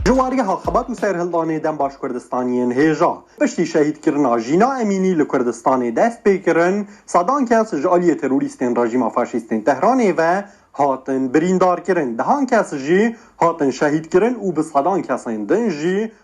جواری هاخبات و سەرهلدانێ دەم باش کوردستانیێن هێژا پشتی شەهید کرنا ژینا ئەمینی لە کوردستانێ دەست پێ کرن، سەدان کەس ژە ئالیێ تروریستێن ڕژیما فاشیستێن تەهرانێ ڤە هاتن بریندار کرن، دەهان کەس ژی هاتن شەهید کرن و بسەدان کەسێن دن ژی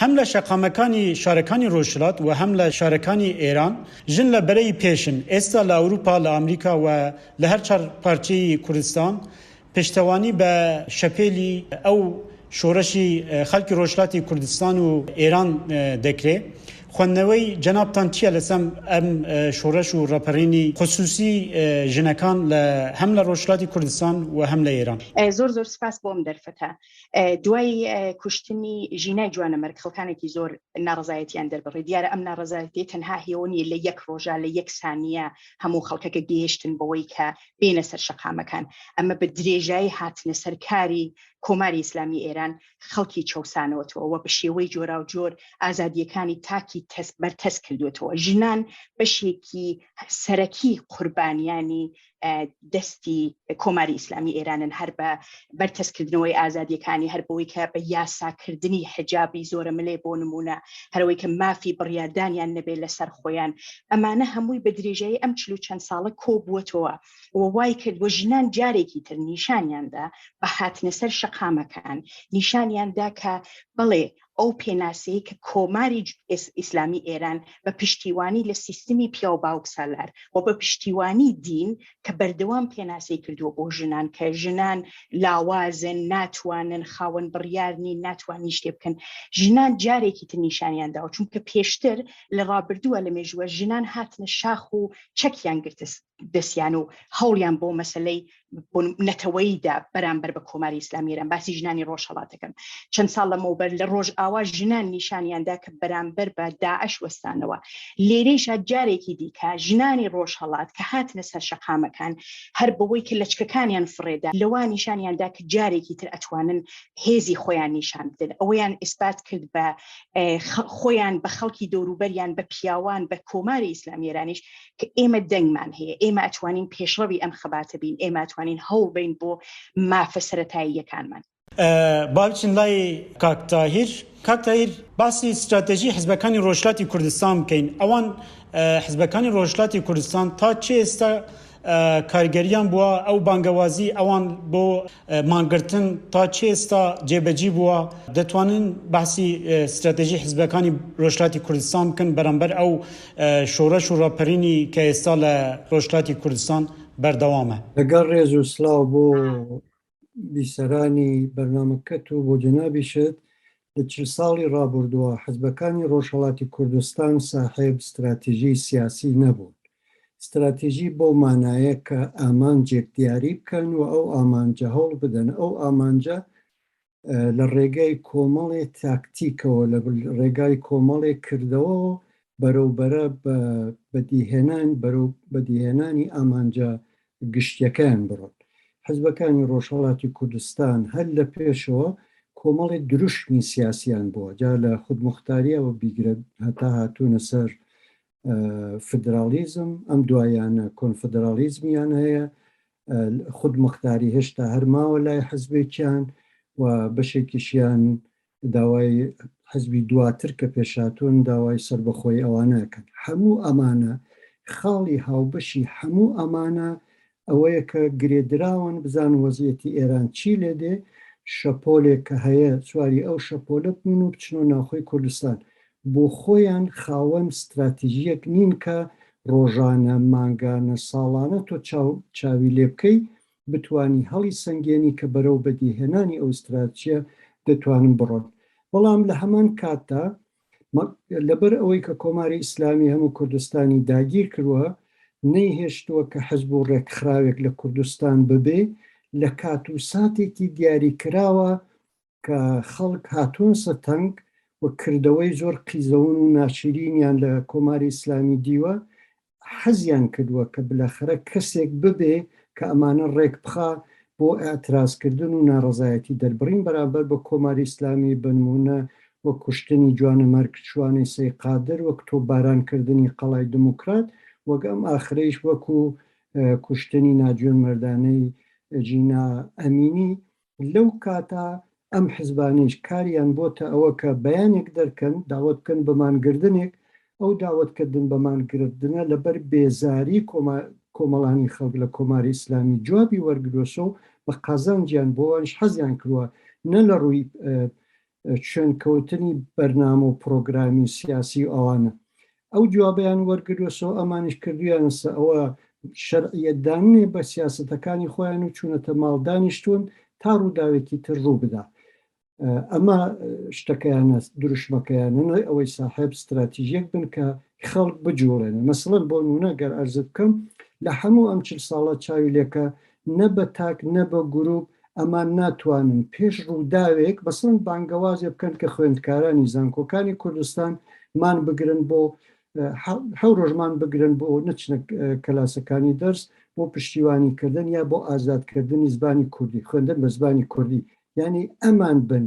هەم لە شەقامەکانی شارەکانی رۆژهڵات و هەم لە شارەکانی ئێران، ژن لە بەرەی پێشن، ئێستا لە ئەوروپا، لە ئامریکا و لە هەر چار پارچەی کوردستان، پشتەوانی بە شەپێلی ئەو شۆڕشی خەڵکی رۆژهڵاتی کوردستان و ئێران دەکرێ. خوەندنەوەی جەنابتان چیە لەسەم ئەم شۆڕش و راپەڕینی خسوسی ژنەکان لە هەم لە رۆژهڵاتی کوردستان و هەم لە ئێران؟ زۆر زۆر سوپاس بۆ ئەم دەرفەتە. دوای کوشتنی ژینای جوانەمەرگ خەڵکانێکی زۆر ناڕزایەتیان دەربڕی دیارە ئەم ناڕزایەتی تەنها هێونی لە یەک ڕۆژە لە یەک سانیە هەموو خەڵکەکە گەیشتن بەوەی کە بینە سەر شەقامەکان ئەمە بە درێژایی هاتنە سەرکاری کۆماری ئیسلامی ئێران خەڵکی چەسانەوەەوە و بە شێوەی جۆرا و جۆر ئازادیەکانی تاکی تەس بەرتەس کردوێتەوە ژنان بەشێکی سەرەکی قوربانیانی دەستی کۆماری ئیسلامی ئێرانن هەر بە بەرتەسکردنەوەی ئازادیەکانی هەر بۆی کە بە یاساکردنی حجابی زۆرە ملێ بۆ نمونە هەرەوەی کە مافی بڕیادانیان نەبێت لەسەر خۆیان ئەمانە هەمووی بە درێژایی ئەم چلو چەند ساڵە کۆبووەتەوە و وای کرد بۆ ژنان جارێکی تر نیشانیاندا بە هاتنە سەر شەقامەکان نیشانیاندا کە بەڵێ ئەو پێناسەی کە کۆماری ئیسلامی ئێران بە پشتیوانی لە سیستمی پیاو باوک سالار و بە پشتیوانی دین کە بەردەوام پێناسەی کردووە بۆ ژنان کە ژنان لاوازن ناتوانن خاوەن بڕیارنی ناتوانین شتێ بکەن ژنان جارێکی تر نیشانیان داوە چونکە پێشتر لە ڕابردووە لە مێژووە ژنان هاتنە شاخ و چەکیان گرتە دەستیان و هەوڵیان بۆ مەسلەی نەتەوەیدا بەرامبەر بە کۆماری ئیسلامی ئێران باسی ژنانی ڕۆژهڵاتەکەم چەند ساڵ لەمەوبەر لە ڕۆژ ئاوا ژنان نیشانیاندا کە بەرامبەر بە داعش وەستانەوە لێرەیشا جارێکی دیکە ژنانی ڕۆژهڵات کە هاتنە سەر شەقامەکان هەر بەوەی کە لەچکەکانیان فڕێدا لەوان نیشانیاندا کە جارێکی تر ئەتوانن هێزی خۆیان نیشان بدن ئەوەیان ئیسپات کرد بە خۆیان بە خەڵکی دەوروبەریان بە پیاوان بە کۆماری ئیسلامیێرانیش کە ئێمە دەنگمان هەیە ئێمە ئەتوانین پێشڕەوی ئەم خەباتە بین ئێمە ئەتوانین هەوڵ بین بۆ مافە سەتاییەکانمان. با بچین لای کاک تاهیر. کاک تاهیر باسی ستراتێژی حزبەکانی ڕۆژهیلاتی کوردستان بکەین ئەوان حزبەکانی ڕۆژهیلاتی کوردستان تا چێ ئێستا کارگەریان بووە ئەو بانگەوازی ئەوان بۆ مانگرتن تا چ ئێستا جێبەجی بووە؟ دەتوانن بەحسی ستراتێژی حزبەکانی رۆژهلاتی کوردستان بکەن بەرامبەر ئەو شۆڕەش و راپەرینی کە ئێستا لە رۆژهلاتی کوردستان بەردەوامە؟ لەگەڵ رێز و سلاو بۆ بیسەرانی بەرنامەکەت و بۆ جەنابیشت، لە چل ساڵی ڕابوردوە حزبەکانی ڕۆژهەڵاتی کوردستان ساحێب ستراتیژی سیاسی نەبوون. ستراتیژی بەو مانایە کە ئامانجێک دیاری بکەن و ئەو ئامانجە هەوڵ بدەن ئەو ئامانجە لە ڕێگای کۆمەڵێ تاکتیکەوە لە ڕێگای کۆمەڵێ کردەوە بەرەو بەرە بە بەدیهێنان بەرەو بەدیهێنانی ئامانجە گشتیەکەیان بڕن. حزبەکانی ڕۆژهەڵاتی کوردستان هەر لە پێشەوە کۆمەڵی دروشمی سیاسیان بووە، جا لە خودموختاریەوە بیگرە هەتا هاتوونە سەر فیدراڵیزم، ئەم دواییانە کۆنفدراڵیزمیان هەیە، خودمختاری هێشتا هەر ماوە لای حزبێکیان و بەشێکیشیان داوای حزبی دواتر کە پێشهاتوون داوای سەربەخۆیی ئەوانە ئەکەن هەموو ئەمانە خاڵی هاوبەشی هەموو ئەمانە ئەوەیە کە گرێدراون بزان وەزیەتی ئێران چی لێ دێ شەپۆلێک کە هەیە سواری ئەو شەپۆلە بوون و بچنەوە ناوخۆی کوردستان بۆ خۆیان خاوەن ستراتیژیەک نین کە ڕۆژانە مانگانە ساڵانە تۆ چاو چاوی لێ بکەی بتوانی هەڵی سەنگێنی کە بەرەو بەدیهێنانی ئەو ستراتژیە دەتوانن بڕۆن بەڵام لە هەمان کاتدا لەبەر ئەوەی کە کۆماری ئیسلامی هەموو کوردستانی داگیر کروە نەیهێشتووە کە حزب و ڕێکخراوێک لە کوردستان ببێ لە کات و ساتێکی دیاری کراوە کە خەڵک هاتوونسە تەنگ و کردەوەی زۆر قیزەون و ناشیرینیان لە کۆماری ئیسلامی دیوە، حەزیان کردووە کە بلەخەرە کەسێک ببێ کە ئەمانە ڕێک بخا بۆ ئیعتراز کردن و ناڕەزایەتی دەربڕین بەرامبەر بە کۆماری ئیسلامی بەنموونە وەک کوشتنی جوانەمەرگ شوانەی سەی قادر وەک تۆپباران کردنی قەڵای دموکرات وەک ئەم ئاخرەیش وەکوو کوشتنی ناجوێن مەردانەی جینا ئەمینی لەو کاتە ئەم حزبانەیش کاریان بۆتە ئەوە کە بەیانێک دەرکەن داوەت بکەن بە مانگردنێک، ئەو داوەت کردن بە مانگردنە لەبەر بێزاری کۆمەڵانی خەڵک لە کۆماری ئیسلامی جوابی وەرگروەسەو بە قازانجیان بۆ وانیش حەزیان کروە نە لە رووی شوێنکەوتنی بەرنامە و پڕۆگرامی و سیاسی و ئەوانە ئەو جوابیان وەرگروەسەوە ئەمانیش کردویانەسە ئەوە شەرعیەتدانێ بە سیاستەکانی خۆیان و چوونەتە ماڵ دانیشتون تا ڕووداوێکی تر ڕوو بدا ئەمە شتەکەیانە دروشمەکەیانەوەی ئەوەی ساحب استراتیژیەک بن کە خەڵک بجوڵێن مەسڵەن بۆ نونە گەر ئەرزت بکەم لە هەموو ئەم چل ساڵە چاوی لێکە نە بە تاک نە بە گروپ ئەمان ناتوانن پێش ڕووداوێک مەسەڵەن بانگەوازێ بکەن کە خوێندکارانی زانکۆکانی کوردستان مان بگرن بۆ حەو ڕۆژمان بگرن بۆ نەچنە کەلاسەکانی دەرس بۆ پشتیوانی کردن یا بۆ ئازادکردنی زبانی کوردی خوێندن بە زبانی کوردی یعنی ئەمان بن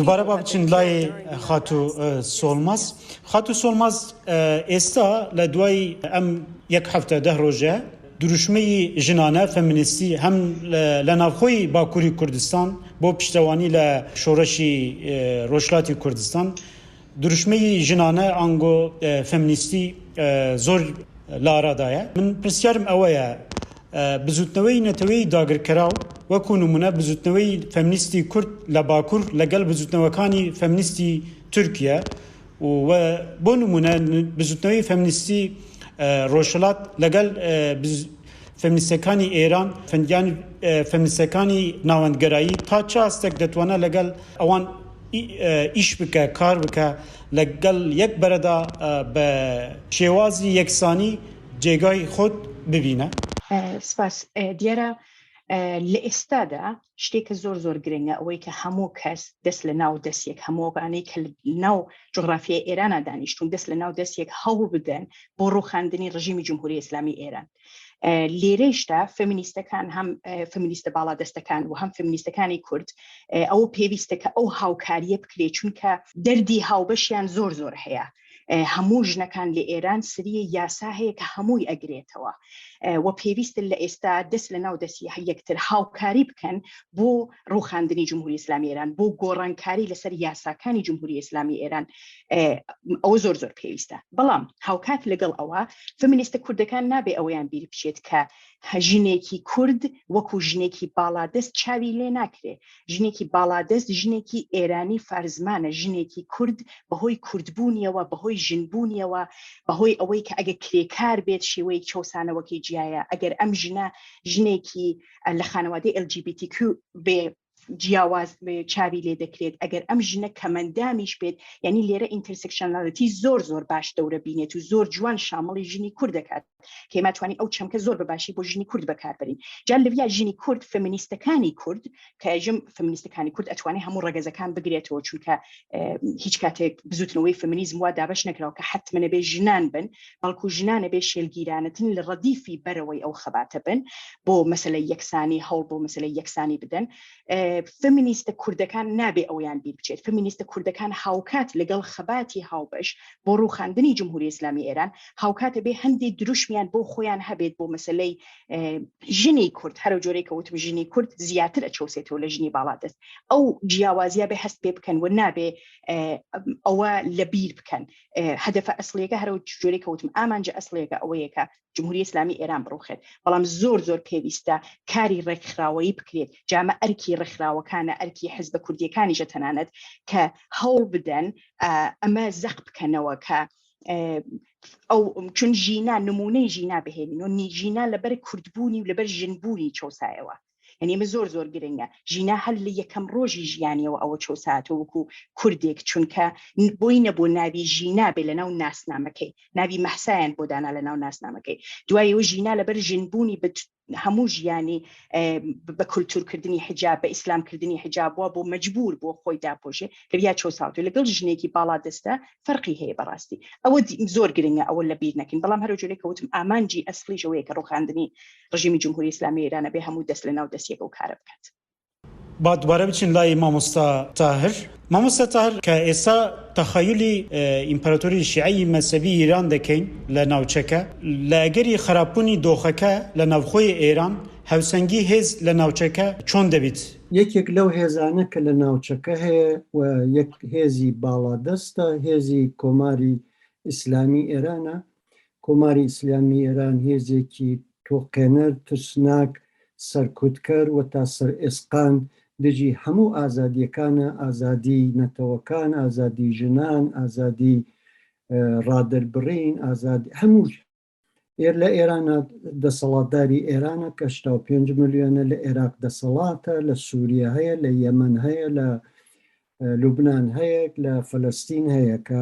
دوبارە با بچین لای خاتوو سۆڵماز خاتوو سۆڵماز ئێستا لە دوای ئەم یەک هەفتە دە ڕۆژە دروشمەی ژنانە فەمنیستی هەم لە ناوخۆی باکووری کوردستان بۆ پشتەوانی لە شۆڕشی ڕۆژهەڵاتی کوردستان دروشمەی ژنانە ئانگۆ فێمنیستی زۆر لارادایە. من پرسیارم ئەوەیە بزووتنەوەی نەتەوەی داگرکەراو وەکوو نموونە بزووتنەوەی فێمنیستی کورد لە باکوور لەگەڵ بزووتنەوەکانی فێمنیستی تورکیە و بۆ نموونە بزووتنەوەی فێمنیستی ڕۆژهەڵات لەگەڵ فێمنیستەکانی ئێران یان فێمنیستەکانی ناوەندگەرایی تا چ ئاستێک دەتوانێت لەگەڵ ئەوان ئیش بکە، کار بکە، لە گەڵ یەک بەرەدا بە شێوازی یەکسانی جێگای خۆت ببینە. سپاس. دیارە لە ئێستادا شتێکە زۆر زۆر گرنگە ئەوەی کە هەموو کەس دەست لە ناو دەست یەک هەموو ئەوانەی کە ناو جوغرافیای ئێرانا دانیشتوون دەست لە ناو دەست یەک هەوڵ بدەن بۆ ڕووخاندنی ڕژیمی جمهوری ئیسلامی ئێران. لێرەیشدا فەمینیستەکان هەم فەمینیستە باڵادەستەکان و هەم فەمینیستەکانی کورد ئەو پێویستە کە ئەو هاوکاریە بکرێت چونکە دەردی هاوبەشیان زۆر زۆر هەیە هەموو ژنەکان لە ئێران سریە یاسا هەیە کە هەمووی ئەگرێتەوە و پێویستن لە ئێستا دەست لە ناو دەستی یەکتر هاوکاری بکەن بۆ ڕوخاندنی جمهوری ئسلامی ئێران بۆ گۆڕانکاری لەسەر یاساکانی جمهوری ئسلامی ئێران ئەوە زۆر زۆر پێویستە بەڵام هاوکات لەگەڵ ئەوە فمینیستە کوردەکان نابێ ئەوەیان بیر بچێت کە ژنێکی کورد وەکو ژنێکی باڵادەست چاوی لێ ناکرێ ژنێکی باڵادەست ژنێکی ئێرانی فارزمانە ژنێکی کورد بەهۆی کوردبوونیەوە بەهۆی ژنبوونیەوە بەهۆی ئەوەی کە ئەگە کرێکار بێت شێوەیەک چەسانەوەکەی جیایە ئەگەر ئەم ژنە ژنێکی لە خانەوادەی LGBTQ بێ جیاواز چاوی لێ دەکرێت ئەگەر ئەم ژنە کەمەندامیش بێت یعنی لێرە ئینترسکشنالەتی زۆر زۆر باش دەورە بینێت و زۆر جوان شامڵی ژنی کورد دەکات کەماتوانی ئەو چەمکە زۆر بەباشی بۆ ژنی کورد بەکاربرین جان لەویا ژنی کورد فمینیستەکانی کورد کە ژم فمینیستەکانی کورد ئەتوانێت هەموو ڕگەزەکان بگرێتەوە چونکە هیچ کاتێک بزوتنەوەی فمینیزم وا دابش نەکراوە کە حتممە بێ ژنان بن بەڵکو ژنانە بێ شێلگیرانەتن لە ڕەدیفی بەرەوەی ئەو خەباتە بن بۆ مەسەلەی یەکسانی هەوڵ بۆ مەسەلەی یەکسانی بدەن فمینیستە کوردەکان نابێ ئەویان بیر بچێت فمینیستە کوردەکان هاوکات لەگەڵ خەباتی هاوبەش بۆ ڕوخاندنی جمهوری ئسلامی ئێران هاوکاتە بێ هەندی دروشمیان بۆ خۆیان هەبێت بۆ مەسلەی ژنی کورد هەرو جۆرەی کەوتم ژنی کورد زیاتر ئەچەوسێتەوە لە ژنی باڵا دەست ئەو جیاوازیە بێ هەست پێ بکەن و نابێ ئەوە لە بیر بکەن هەدەفە ئەسلیەکە هەرو جۆری کەوتم ئامانجە ئەسلیەکە ئەوەیە کە جمهوری ئسلامی ئێران بڕوخێت بەڵام زۆر زۆر پێویستە کاری ڕێکخراوەیی بکرێت جامە ئەرکی ڕێکخراوەکانە ئەرکی حز بە کوردیەکانیشە تەنانەت کە هەوڵ بدەن ئەمە زەق بکەنەوە کە ئەو چون ژینا نمونەی ژینا بهێنین و نیژینا لەبەر کوردبوونی و لەبەر ژنبوونی چۆسایەوە یعنی ئمە زۆر زۆر گرنگە ژینا هەر لە یەکەم ڕۆژی ژیانەوە ئەوە چۆساتە وکو کوردێک چونکە بۆی نەبوو ناوی ژینا بێ لە ناو ناسنامەکەی ناوی مەحسایان بۆ دانا لە ناو ناسنامەکەی دوای و ژینا لەبەر ژنبوونی بە هەموو ژیانی بە کولتورکردنی حجاب بە ئیسلامکردنی حجابووە بۆ مجبور بۆ خۆی داپۆشێ کە یا چۆ ساوت لەگەڵ ژنێکی باڵا دەستە فەرقی هەیە بەڕاستی ئەوە زۆر گرنگە ئەوە لە بیر نەکەین بەڵام هەرو جۆرێک کەوتم ئامانجی ئەسلیشەوەیە کە ڕوخاندنی ڕژیمی جمهوری ئیسلامی ئێران ئەبێ هەموو دەست لە ناو دەستیەک ئەو کارە بکات. با دوبارە بچین لای مامۆستا تاهر مامۆستا تاهر کە ئێستا تەخەیولی ئیمپراتۆری شیعەی مەسەوی ئیران دەکەین لە ناوچەکە لە ئەگەری خراپبوونی دۆخەکە لە ناوخۆی ئێران هاوسەنگی هێز لە ناوچەکە چۆن دەبیت؟ یەکێک لەو هێزانە کە لە ناوچەکە هەیە و یەک هێزی باڵادەستە هێزی کۆماری ئیسلامی ئێرانە کۆماری ئیسلامی ئێران هێزێکی تۆقێنەر، ترسناک، سەرکوتکەر و تا سەرئێسقان دژی هەموو ئازادییەکانە، ئازادیی نەتەوەکان، ئازادیی ژنان، ئازادیی ڕادەربڕین، ئازادیی هەموو شت. ئێر لە ئێران دەسەڵاتداری ئێرانە کە هەشتا و پێنج ملیۆنە، لە ئێراق دەسەڵاتە، لە سووریە هەیە، لە یەمەن هەیە، لە لوبنان هەیە لە فەلەستین هەیە کە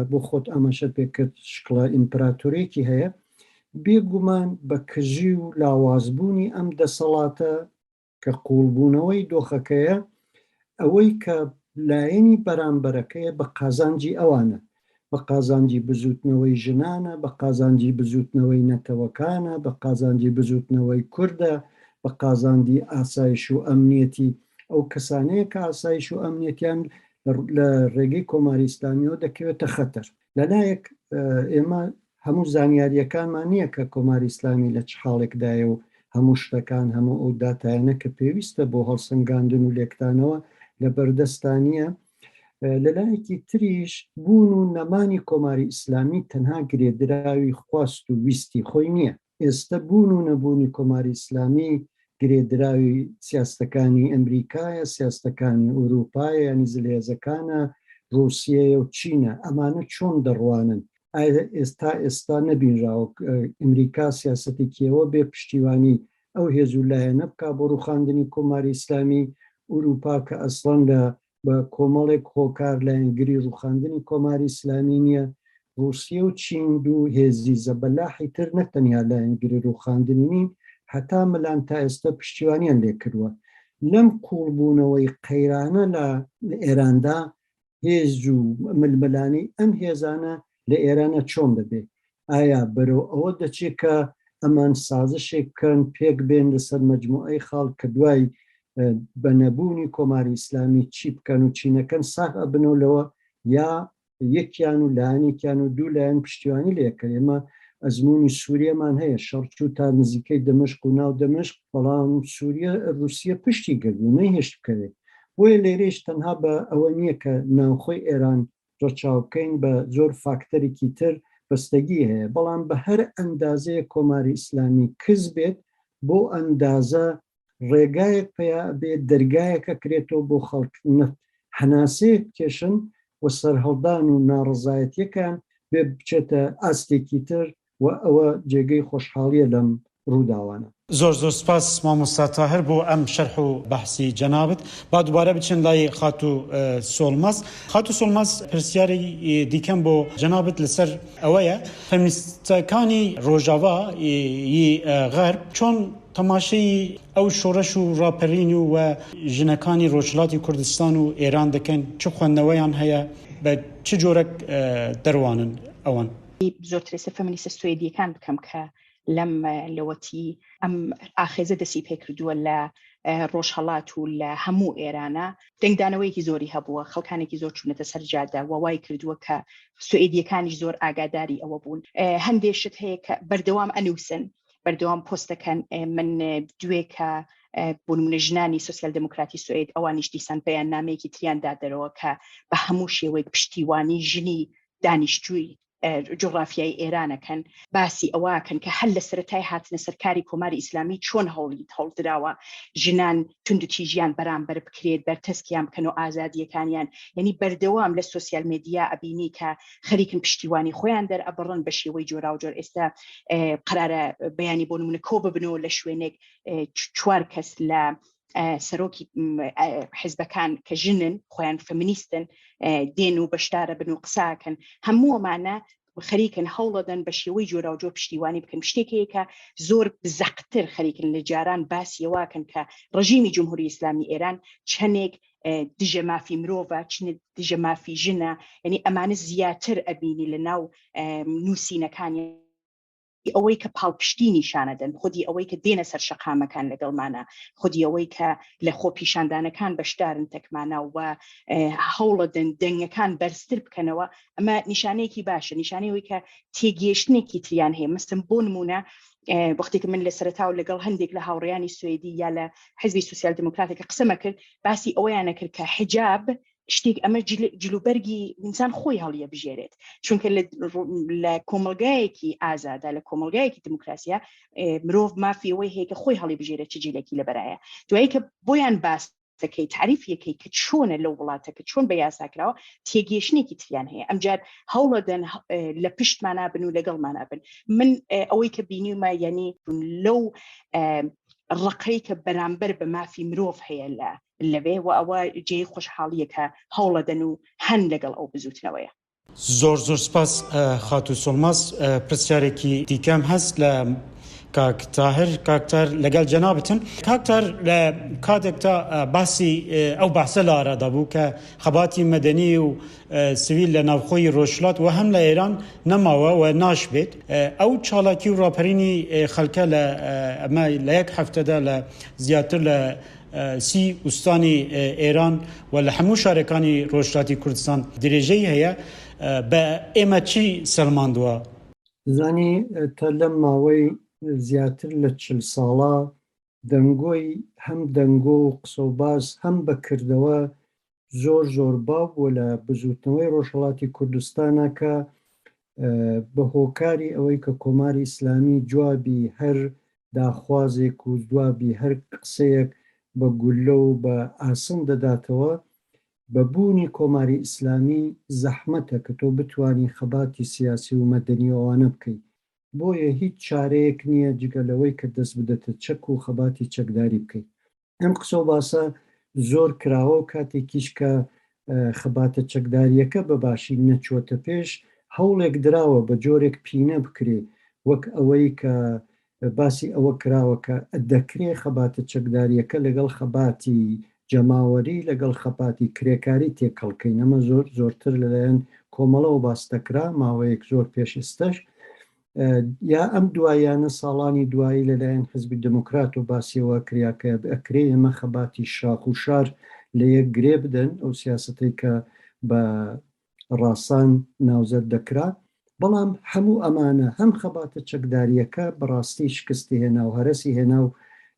بۆ خۆت ئاماشەت پێ کرد شکڵە ئیمپراتورێکی هەیە بێگومان بە کژی و لاوازبوونی ئەم دەسەڵاتە کە قوڵبوونەوەی دۆخەکەیە ئەوەی کە لایەنی بەرامبەرەکەیە بە قازانجی ئەوانە بە قازانجی بزووتنەوەی ژنانە، بە قازانجی بزووتنەوەی نەتەوەکانە، بە قازانجی بزووتنەوەی کوردە، بە قازاندی ئاسایش و ئەمنیەتی ئەو کەسانەیە کە ئاسایش و ئەمنیەتیان لە ڕێگەی کۆماری ئیسلامیەوە دەکەوێتە خەتەر لەلایەک ئێمە هەموو زانیارییەکانمان نییە کە کۆماری ئیسلامی لە چ حاڵێکدایە و هەموو شتەکان، هەموو ئەو داتایانە کە پێویستە بۆ هەڵسەنگاندن و لێکدانەوە لە بەردەستدا نییە. لە لایەکی تریش بوون و نەمانی کۆماری ئیسلامی تەنها گرێدراوی خواست و ویستی خۆی نییە. ئێستە بوون و نەبوونی کۆماری ئیسلامی گرێدراوی سیاستەکانی ئەمریکایە، سیاستەکانی ئورووپایە یانی زلهێزەکانە، ڕووسیەیە و چینە. ئەمانە چۆن دەڕوانن؟ ئایا تا ئێستا نەبینراوە ئەمریکا سیاسەتێکی ئەوە بێ پشتیوانی ئەو هێز و لایەنە بکا بۆ ڕووخاندنی کۆماری ئیسلامی ئورووپا کە ئەسڵەن لە بە کۆمەڵێک هۆکار لایەنگری ڕووخاندنی کۆماری ئیسلامی نییە، ڕووسیە و چین دوو هێزی زەبەلاحی تر نەک تەنیا لایەنگری ڕووخاندنی نین، هەتا ملان تا ئێستا پشتیوانیان لێ کردووە. لەم قووڵبوونەوەی قەیرانە لە ئێراندا هێز و ململانێی ئەم هێزانە لە ئێرانە چۆن دەبێ؟ ئایا بەرەو ئەوە دەچێت کە ئەمان سازشێک بکەن پێک بێن لەسەر مەجموعەی خاڵ کە دوای بە نەبوونی کۆماری ئیسلامی چی بکەن و چی نەکەن ساغ ئەبن و لەوە یا یەکیان و لایەنێکیان و دوو لایەن پشتیوانی لێ کە ئێمە ئەزمموی سووریەمان هەیە شەڕچوو تا نزیکەی دەمشق و ناو دەمشق بەڵام سووریە رووسە پشتی گردو نەیهێشت بکەوێت بۆیە لێرەش تەنها بە ئەوە نییە کە ناوخۆی ئێران ڕەچاو بکەین بە زۆر فاکتەرێکی تر بەستەگی هەیە بەڵام بە هەر ئەندازەیەک کۆماری ئیسلامی کز بێت بۆ ئەندازە ڕێگایەک پیا بێت دەرگایەک ئەکرێتەوە بۆ خەڵک نەت هەناسەیەک بکێشن و سەرهەڵدان و ناڕەزایەتیەکان بێ بچێتە ئاستێکی تر و ئەوە جێگەی خۆشحاڵیە لەم ڕووداوانە. زۆر زۆر سپاس مامۆستا تاهر بۆ ئەم شەرح و بەحسی جەنابت. با دوبارە بچن لای خاتوو سۆڵمەز. خاتوو سۆڵمەز پرسیاری دیکەم بۆ جەنابت لەسەر ئەوەیە فەمینیستەکانی ڕۆژاوا ی غەرب چۆن تەماشەی ئەو شۆڕش و ڕاپەرین و و ژنەکانی ڕۆژهەڵاتی کوردستان و ئێران دەکەن؟ چ خوەندنەوەیان هەیە؟ بە چ جۆرەک دەڕوانن ئەوان؟ زۆر ترێسە فەمەنیسە سوێدیەکان بکەم کە لەم لەوەتی ئەم ئاخێزە دەسی پێکردووە لە ڕۆژهڵات و لە هەموو ئێرانە دەنگدانەوەیەکی زۆری هەبووە خەڵکانێکی زۆر چوونەتە سەرجادە و وای کردووە کە سوئدیەکانی زۆر ئاگاداری ئەوە بوون هەندێشت هەیە کە بەردەوام ئەنووسن بەردەوام پۆستەکەن من دوێ کە بوونمە ژنانی سوسیال دموکراتی سوئد ئەوانیش دیسان پێیان نامەیەکی تریاندا دەرەوە کە بە هەموو شێوەیەک پشتیوانی ژنی دانیشتووی جوغرافیای ئێرانەکەن باسی ئەوەکەن کە هەر لە سەرەتای هاتنە سەرکاری کۆماری ئیسلامی چۆن هەوڵی هەڵدراوە ژنان توندتیژیان بەرامبەر بکرێت بەرتەسکیان بکەن و ئازادیەکانیان یعنی بەردەوام لە سوسیال مدیا ئەبینی کە خەریکن پشتیوانی خۆیان دەرئەبڕن بە شێوەی جۆراوجۆر ئێستا قرارە بەیانی بۆ نمونە کۆ ببنەوە لە شوێنێک چوار کەس لە سەرۆکی حزبەکان کە ژنن خۆیان فەمینیستن دێن و بەشدارە بن و قساکەن هەمووەمانە خەریکن هەوڵەدەن بە شێوەی جۆرا و جۆر پشتیوانی بکەن شتێکەیەکە زۆر زەقتر خەریکن لە جاران باسیەوەکەن کە ڕژیمی جمهوری ئیسلامی ئێران چەندێک دژە مافی مرۆڤە چنە دژە مافی ژنە یعنی ئەمانە زیاتر ئەبینی لە ناو نووسینەکانی خودی ئەوەی کە پاڵپشتی نیشانەدەن، خودی ئەوەی کە دێنە سەر شەقامەکان لەگەڵمانە، خودی ئەوەی کە لە خۆپیشاندانەکان بەشدارن تەکمانا و هەوڵەدەن دەنگەکان بەرزتر بکەنەوە، ئەمە نیشانەیەکی باشە، نیشانەی ئەوەی کە تێگەیشتنێکی تریان هەیە، مەسەن بۆ نموونە وەختی کە من لە سەرەتاوە لەگەڵ هەندێک لە هاوڕێیانی سوێدی یا لە حزبی سوسیال دیموکراتێک کە قسەمەکرد باسی ئەوەیانەکرد کە حیجاب شتێک ئەمە جلوبەرگی ئینسان خۆی هەڵیە بژێرێت چونکە لە کۆمەلگایەکی ئازادا لە کۆمەلگایەکی دموکراسیە مرۆڤ مافی ئەوەی هەیە کە خۆی هەڵی بژێرێت چ جیلێکی لەبەرایە دوایی کە بۆیان باس یاساکەی تعریف یەکەی کە چۆنە لەو وڵاتەکە چۆن بە یاساکراوە تێگەشتێکی تریان هەیە ئەمجار هەوڵەدەن لە پشتمانە بن و لەگەڵمانە بن من ئەوەی کە بینیمە یعنی لەو ڕقەی کە بەرامبەر بە مافی مرۆڤ هەیە لە لەوێ و ئەوە جێی خۆشحاڵیە کە هەوڵەدەن و هەن لەگەڵ ئەو بزوتنەوەیە. زۆر زۆر سپاس خاتوو سۆڵماس پرسیارێکی دیکەم هەست لە کاک تاهر کاک تار لەگەڵ جەنابتم کاک تار لە کاتێکتا باسی ئەو باسە لە ئارادا بوو کە خەباتی مەدەنی و سویل لە ناوخۆی ڕۆژلات و هەم لە ئێران نەماوە و ناشبێت ئەو چاڵاکی و ڕاپەرینی خەلکە لە ئەمە لە یەک هەفتەدا لە زیاتر لە سی ئوستانی ئێران و لە هەموو شارەکانی ڕۆژهەڵاتی کوردستان درێژەی هەیە، بە ئێمە چی سەلماندووە؟ دەزانی تا لەم ماوەی زیاتر لە چل ساڵە دەنگۆی هەم دەنگۆ و قسە و باس هەم بە کردەوە زۆر زۆر باو بووە لە بزوتنەوەی ڕۆژهەڵاتی کوردستانا کە بە هۆکاری ئەوەی کە کۆماری ئیسلامی جوابی هەر داخوازێک و جوابی هەر قسەیەک بە گوللە و بە ئاسن دەداتەوە بە بوونی کۆماری ئیسلامی زەحمەتە کە تۆ بتانی خەباتی سیاسی و مەدەنی ئەوانە بکەیت بۆیە هیچ چارەیەک نییە جگە لەوەی کە دەست بدەتە چەک و خەباتی چەکداری بکەیت ئەم قسە و باسە زۆر کراوە و کاتێکیش کە خەباتە چەکداریەکە بە باشی نەچوەتە پێش هەوڵێک دراوە بە جۆرێک پینە بکرێ وەک ئەوەی کە باسی ئەوە کراوە کە دەکرێ خەباتە چەکداریەکە لەگەڵ خەباتی جەماوەری لەگەڵ خەپاتی کرێکاری تێکەڵکەی نەمە زۆر زۆرتر لەلایەن کۆمەڵەوە باستەکرا ماوەیەک زۆر پێش ئستەش یا ئەم دواییانە ساڵانی دوایی لەلایەن حزبی دموکرات و باسیەوە کریا کە ئەکرێ ئێمە خەباتی شاخ و شار لە یەک گرێ بدەن ئەو سیاستەی کە بە ڕاسان ناوزەد دەکرا بەڵام هەموو ئەمانە هەم خەباتە چەکداریەکە بەڕاستی شکستی هێنا و هەرەسی هێنا و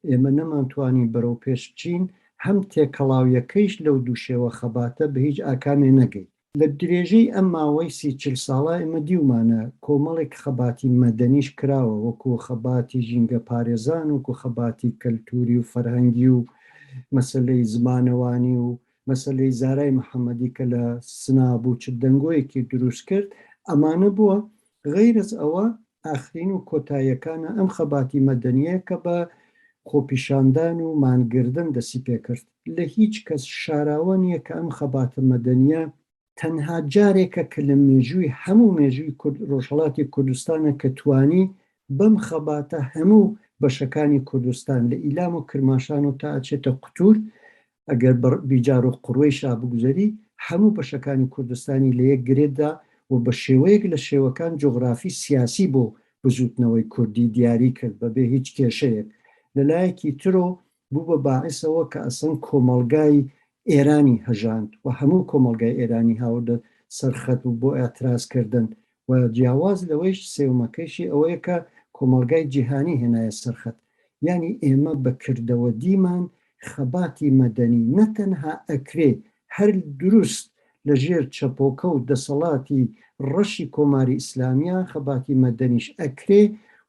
ئێمە نەمانتوانی بەرەو پێش بچین هەم تێکەڵاویەکەیش لەو دووشێوە خەباتە بە هیچ ئاکامێ نەگەیت لە درێژەی ئەم ماوەی سی چل ساڵە ئێمە دیومانە کۆمەڵێک خەباتی مەدەنیش کراوە وەکو خەباتی ژینگە پارێزان وەکو خەباتی کەلتوری و فەرهەنگی و مەسەلەی زمانەوانی و مەسەلەی زارای محەمەدی کە لە سنابوو چ دەنگۆیەکی دروست کرد ئەمانە بووە غەیرەز ئەوە ئاخرین و کۆتاییەکانە ئەم خەباتی مەدەنیە کە بە خۆپیشاندان و مانگردن دەسی پێکرد لە هیچ کەس شاراوە نیە کە ئەم خەباتە مەدەنیە تەنها جارێکە کە لە مێژووی هەموو مێژووی کورد ڕۆژهەڵاتی کوردستانە کە توانی بەم خەباتە هەموو بەشەکانی کوردستان لە ئیلام و کرماشان و تا ئەچێتە قوتور ئەگەر بە بیجارو قڕوەیشا بگوزەری، هەموو بەشەکانی کوردستانی لە یەک گرێددا و بە شێوەیەک لە شێوەکان جوغرافی سیاسی بۆ بزووتنەوەی کوردی دیاری کرد بە بێ هیچ کێشەیەک. لە لایەکی ترۆ بوو بە باعس ئەوە کە ئەسڵەن کۆمەڵگای ئێرانی هەژاند و هەموو کۆمەڵگای ئێرانی هاوردە سەر خەت و بۆ ئێعتراز کردن و جیاواز لەوەیش سێومەکەیشی ئەوەیە کە کۆمەڵگای جیهانی هێنایە سەر خەت، یانی ئێمە بە کردەوە دیمان خەباتی مەدەنی نە تەنها ئەکرێ هەر دروست لە ژێر چەپۆکە و دەسەڵاتی ڕەشی کۆماری ئیسلامیە خەباتی مەدەنیش ئەکرێ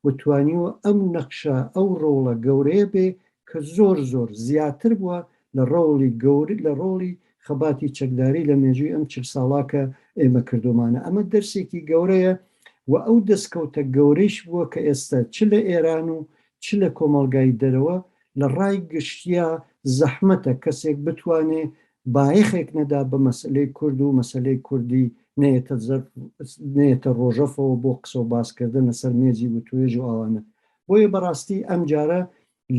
و توانیوە ئەم نەقشە ئەو ڕۆڵە گەورەیە بێ کە زۆر زۆر زیاتر بوە لە ڕۆڵی گەور لە ڕۆڵی خەباتی چەکداری لە مێژوی ئەم چل ساڵە کە ئێمە کردۆمانە ئەمە دەرسێکی گەورەیە و ئەو دەسکەوتە گەورەیش بوە کە ئێستە چ لە ئێران و چ لە کۆمەڵگای دەرەوە لە ڕای گشتیا زەحمەتە کەسێک بتوانێ بایەخێک نەدا بە مەسەلەی کورد و مەسەلەی کوردی نەیەتە زەرف نەیەتە ڕۆژەفەوە بۆ قسە و باس کردن لە سەر مێزی وتوێژ و ئاوانە بۆیە بەڕاستی ئەمجارە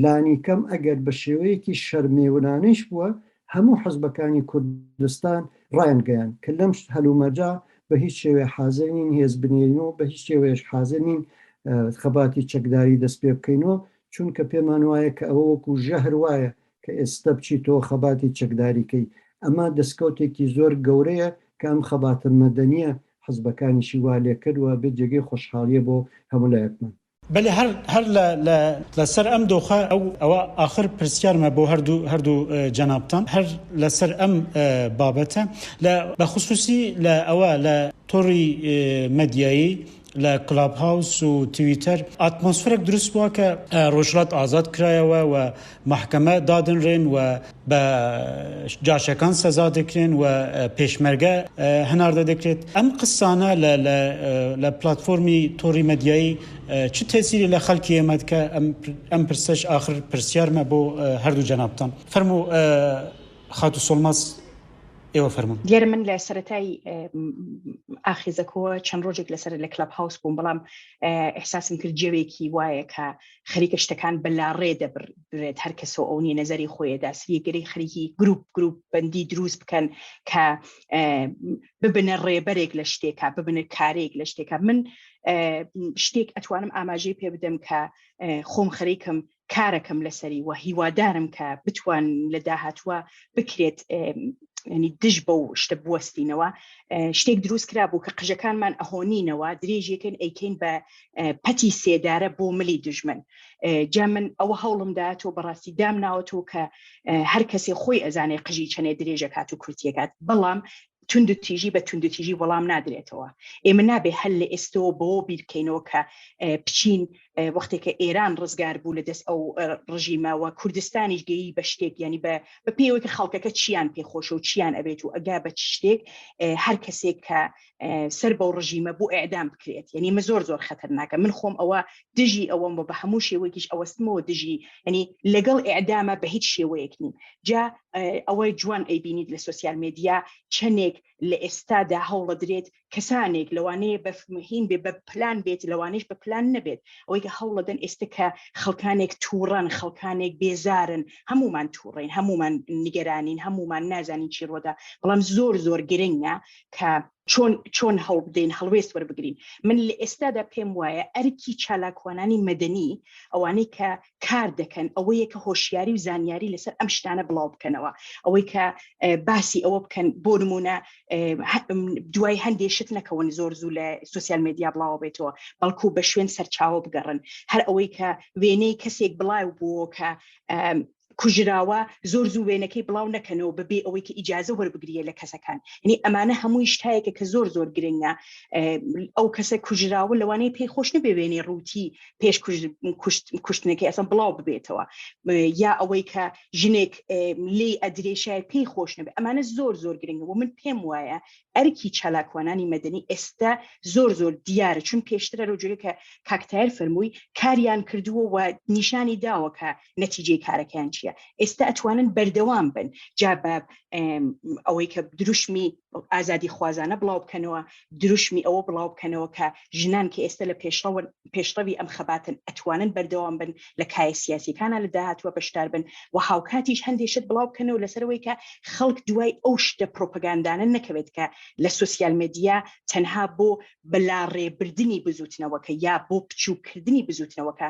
لانیکەم ئەگەر بە شێوەیەکی شەرمێونانەیش بووە هەموو حزبەکانی کوردستان ڕایانگەیان کە لەم هەلومەرجا بە هیچ شێوێ حاضر نین هێز بنێرین و بە هیچ شێوەیەش حاضر نین خەباتی چەکداری دەست پێ بکەینەوە چونکە پێمان وایە کە ئەوە وەکو ژەهر وایە کە ئێستا بچیتەوە خەباتی چەکداریکەی ئەمە دەستکەوتێکی زۆر گەورەیە کە ئەم خەباتە مەدەنیە حزبەکانیشی وا لێکرد و ئەبێ جێگەی خۆشحاڵیە بۆ هەموو لایەکمان. بەلی هەر هەر لە لە لە سەر ئەم دۆخە ئەو ئەوە ئاخر پرسیارمە بۆ هەردوو هەردوو جەنابتان هەر لە سەر ئەم بابەتە لە بە خصوصی لە ئەوە لە تۆڕی مەدیایی لە کلاب هاوس و تویتەر ئاتمۆسفرەک دروست بووە کە ڕۆژهەڵات ئازاد کرایەوە و مەحکەمە دادەنرێن و بە جاشەکان سەزا دەکرێن و پێشمەرگە هەناردە دەکرێت ئەم قسانە لە پلاتفۆرمی تۆڕی مەدیایی چ تەسیری لە خەلکی ئێمەد کە ئەم پرسەش ئاخر پرسیارمە بۆ هەردوو جەنابان فەرموو خاتو سۆڵماس ئێوە فەرمون دیێر من لە سەتای ئاخیزەکەوە چەند ڕۆژێک لەسەر لە کلب هاوس بووم بەڵام احساسم کرد جەوێکی وایە کە خەریکە شتەکان بەلا ڕێ دەبرن بێت هەر کەسەوە ئەو نیە نەزەری خۆیەدا سریگەری خەریکی گروپ گروپ بەندی دروست بکەن کە ببنە ڕێبەرێک لە شتێکا ببنە کارێک لە شتێکە من شتێک ئەتوانم ئاماژەی پێ بدەم کە خۆم خەریکم کارەکەم لەسەری وە هیوادارم کە بتوان لە داهاتوە بکرێت ینی دژ بە و شتە بوەستینەوە شتێک دروست کرا بوو کە قژەکانمان ئەهۆنینەوە درێژیەکەن ئەیکەین بە پەتی سێدارە بۆ ملی دژمن جا من ئەوە هەوڵم داەوە بەڕاستی دام ناوەتەوە کە هەر کەسێ خۆی ئەزانێ قژی چەنێ درێژەکات و کورتیەکات بەڵام تونند تیژی بە تونند تیژی وەڵام نادرێتەوە ئێمە نابێ هەل لە ئێستەوە بۆ بیرکەینەوە کە بچین وەختێکە ئێران ڕزگار بوو لە دەست ئەو ڕژیمەوە کوردستانیش گەیی بە شتێک ینی بە بە پێوەکە خەڵکەکە چیان پێخۆشە و چیان ئەبێت و ئەگا بە شتێک هەر کەسێک کە سەر بەو ڕژیمە بۆ ئەعدام بکرێت یعنی من زۆر زۆر خەتەرناکە من خۆم ئەوە دژی ئەوەم بە هەموو شێوەیەکیش ئەوەستمەوە دژی ینی لەگەڵ ئعدامە بە هیچ شێوەیەک نیم جا ئەوەی جوان ئەیبینیت لە سوسیال مدیا چەندێک لە ئێستادا هەوڵە درێت کەسانێک لەوانەیە بەفمهین بێ بە پلان بێت لەوانش بە پلان نەبێت ئەوەی کە هەوڵە دەن ئێستا کە خەڵکانێک تووڕەن خەڵکانێک بێزارن هەمومان تووڕین هەمومان نیگەرانین هەمومان نازانین چی ڕۆدا بەڵام زۆر زۆر گرنگە کە چۆن چۆن هەڵ بدەین هەڵوێست وەربگرین من لە ئێستادا پێم وایە ئەرکی چالاکوانانی مەدەنی ئەوانەی کە کار دەکەن ئەوەیە کە هۆشیاری و زانیاری لەسەر ئەم شتانە بڵاو بکەنەوە ئەوەی کە باسی ئەوە بکەن بۆ نمونە دوای هەندێ شت نەکەون زۆر زوو لە سوسیال مدیا بڵاوە بێتەوە بەڵکو بە شوێن سەرچاوە بگەڕن هەر ئەوەی کە وێنەی کەسێک بڵاو بووە کە کوژراوە زۆر زوو وێنەکەی بڵاو نەکەنەوە بە بێ ئەوەی کە ئیجازە وەربگریە لە کەسەکان نی ئەمانە هەمووی شتایەکە کە زۆر زۆر گرنگە ئەو کەسە کوژراوە لەوانەیە پێی خۆش نەبێ وێنەی ڕووتی پێش کوشتنەکەی ئەسم بڵاو ببێتەوە یا ئەوەی کە ژنێک لی ئەدرێشای پێی خۆش نەبێ ئەمانە زۆر زۆر گرنگە و من پێم وایە ئەرکی چالاکوانانی مەدەنی ئێستا زۆر زۆر دیارە چون پێشترە لەو جوێکە کاکتار فەرمووی کاریان کردووە و نیشانی داوە کە نەتیجەی کارەکەیان چییە ئێستا ئەتوانن بەردەوام بن جا بە ئەوەی کە دروشمی ئازادی خوازانە بڵاو بکەنەوە دروشمی ئەوە بڵاو بکەنەوە کە ژنان کە ئێستا لە پێشڕەوە پێشڕەوی ئەم خەباتن ئەتوانن بەردەوام بن لە کایە سیاسەکانە لە داهاتوە بەشدار بن و هاوکاتیش هەندێشت بڵاو بکەنەوە لەسەرەوەی کە خەڵک دوای ئەو شتە پرۆپگاندانە نەکەوێت کە لە سوسیال مدیا تەنها بۆ بەلا ڕێبردننی بزوتنەوەکە یا بۆ بچووکردنی بزوتنەوەکە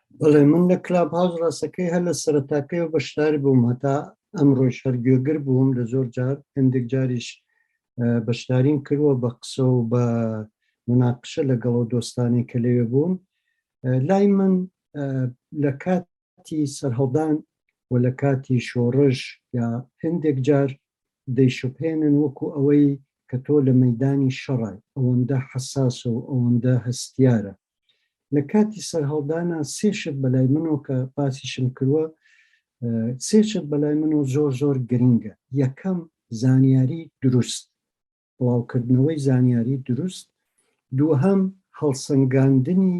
بەڵێ من لە کلاب هاوس ڕاستەکەی هەر لە سەرتاکەی و بەشدار بووم هەتا ئەم ڕۆژ هەرگوێگر بووم لە زۆر جار هەندێک جاریش بەشداریم کردوە بە قسە و بە مناقشە لەگەڵەوە دۆستانی کە لەوێ بوون لای من لە کاتی سەرهەڵدان و لە کاتی شۆڕش یا هەندێک جار دەیشوپێنن وەکو ئەوەی کە تۆ لە مەدانی شەڕای ئەوەندە حساس و ئەوەندە هەستیارە لە کاتی سەرهەڵدانا سێ شت بەلای منۆ کە باسیشم کروە سێ شت بەلای منۆ زۆر زۆر گرنگە یەکەم زانیاری دروست بڵاوکردنەوەی زانیاری دروست دووهەم هەڵسەنگاندنی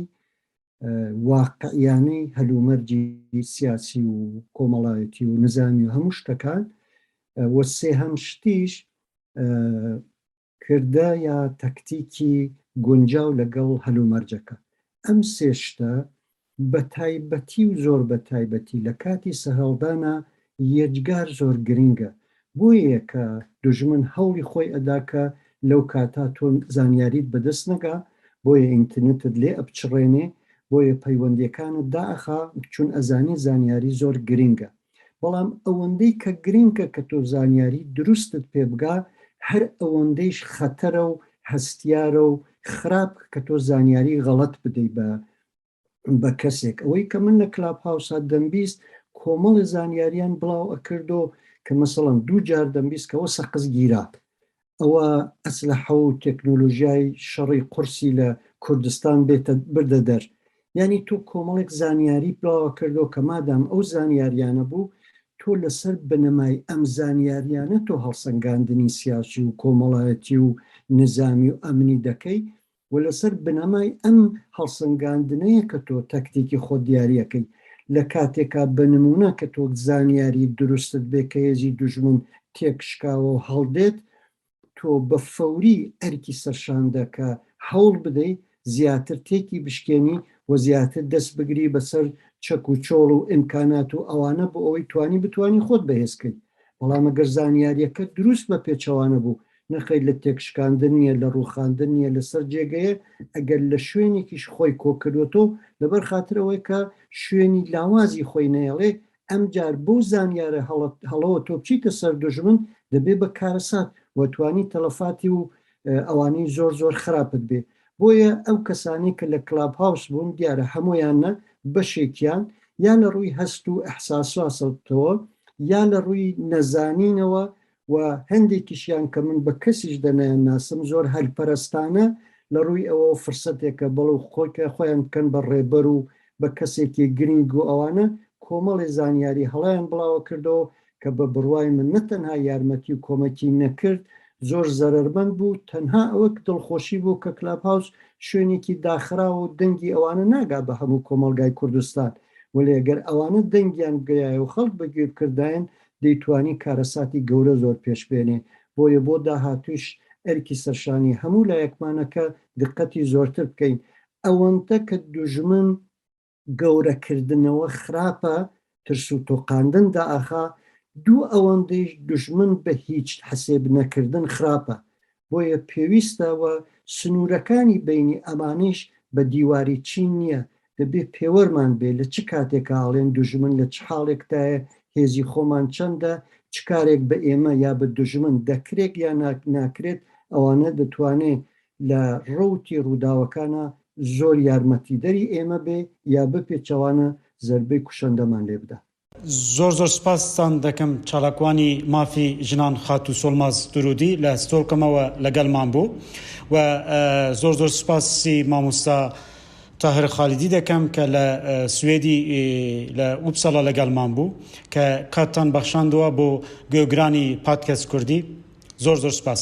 واقعیانەی هەلومەرجی سیاسی و کۆمەڵایەتی و نزامی و هەموو شتەکان وە سێهەم شتیش کردە یا تەکتیکی گونجاو لەگەڵ هەلومەرجەکە. ئەم سێ شتە بە تایبەتی و زۆر بە تایبەتی لە کاتی سەرهەڵدانا یەجگار زۆر گرینگە. بۆیەیە کە دوژمن هەوڵی خۆی ئەدا کە لەو کاتا تۆ زانیاریت بە دەست نەگا، بۆیە ئینتنتت لێ ئەپچڕێنێ، بۆیە پەیوەندیەکانت دائەخا چون ئەزانی زانیاری زۆر گرینگە. بەڵام ئەوەندەی کە گرنکە کە تۆ زانیاری دروستت پێ بگا هەر ئەوەندەیش خەتەرە و هەستیارە و خراپ کە تۆ زانیاری غەڵەت بدەی بە بە کەسێک ئەوەی کە من لە کلاب هاوسا دەمبیست کۆمەڵی زانیاریان بڵاو ئەکردۆ کە مەسەڵەن دوو جار دەمبیست کەەوە سەقز گیرات ئەوە ئەسلەحە و تێکنۆلۆژیای شەڕی قورسی لە کوردستان بێتە بردە دەر یانی تۆ کۆمەڵێک زانیاری بڵاوە کردەوە کە مادام ئەو زانیاریانە بوو تۆ لەسەر بنەمای ئەم زانیاریانە تۆ هەڵسەنگاندنی سیاسی و کۆمەڵایەتی و نزامی و ئەمنی دەکەی و لەسەر بنەمای ئەم هەڵسەنگاندنەیە کە تۆ تەکتیکی خۆت دیاری ئەکەی لە کاتێکا بە نمونە کە تۆ زانیاری دروستت بێ کە هێزی دوژمن تێک شکاوە و هەڵدێت تۆ بە فەوری ئەرکی سەرشاندە کە هەوڵ بدەی زیاتر تێکی بشکێنی و زیاتر دەست بگری بەسەر چەک و چۆڵ و ئیمکانات و ئەوانە بۆ ئەوەی توانی بتانی خۆت بەهێزکەیت بەڵام ئەگەر زانیاریەکەت دروست بە پێچەوانە بوو نرخەی لە تێکشکاندن نیە لە ڕوخاندن نیە لەسەر جێگەیە ئەگەر لە شوێنێکیش خۆی کۆکردوەتەوە لەبەر خاتر ئەوەی کە شوێنی لاوازی خۆی نەیەڵێ ئەمجار بەو زانیارە هەڵەوە تۆ بچیتە سەر دوژمن دەبێ بە کارەسات وە توانی تەلەفاتی و ئەوانەی زۆر زۆر خراپت بێ بۆیە ئەو کەسانەی کە لە کلاب هاوس بوون دیارە هەموویان نە بەشێکیان یا لە ڕووی هەست و ئیحساساسەوە یا لە ڕووی نەزانینەوە و هەندێکیشیان کە من بە کەسیش دەنایان ناسم زۆر هەلپەرستانە لە ڕووی ئەوە فرسەتێکە بەڵو خۆکە خۆیان بکەن بە ڕێبەر و بە کەسێکی گرنگ و ئەوانە کۆمەڵی زانیاری هەڵیان بڵاوە کردەوە کە بە بڕوای من نە تەنها یارمەتی و کۆمەکی نەکرد زۆر زەرەرمەند بوو تەنها ئەوە دڵخۆشی بوو کە کلاب هاوس شوێنێکی داخراو و دەنگی ئەوانە ناگا بە هەموو کۆمەڵگای کوردستان وەلێ ئەگەر ئەوانە دەنگیان بگەیایە و خەڵک بەگوێ بکردایەن دەیتوانی کارەساتی گەورە زۆر پێش بێنێ بۆیە بۆ داهاتووش ئەرکی سەرشانی هەموو لایەکمانە کە دقەتی زۆرتر بکەین ئەوەندە کە دوژمن گەورەکردنەوە خراپە ترس و تۆقاندن داخا دوو ئەوەندەیش دوژمن بە هیچ حسێب نەکردن خراپە بۆیە پێویستە و سنوورەکانی بینی ئەمانەیش بە دیواری چین نییە دەبێ پێوەرمان بێ لە چ کاتێکا ئەڵێن دوژمن لە چ حاڵێکتایە هێزی خۆمان چەندە چ کارێک بە ئێمە یا بە دوژمن دەکرێت یا ناکرێت ئەوانە دەتوانێت لە ڕەوتی ڕووداوەکانا زۆر یارمەتیدەری ئێمە بێ یا بپێچەوانە زەربەی کوشەندەمان لێ بدات. زۆر زۆر سپاستان دەکەم چالاکوانی مافی ژنان خاتوو سۆڵماز دروودی لە ستۆکهۆمەوە لەگەلمان بوو و زۆر زۆر سپاسی مامۆستا تاهر خالیدی دەکەم کە لە سوێدی لە ئوپسالا لەگەلمان بوو کە کاتتان بەخشاندوە بۆ گوێگرانی پادکەست کوردی زۆر زۆر سپاس.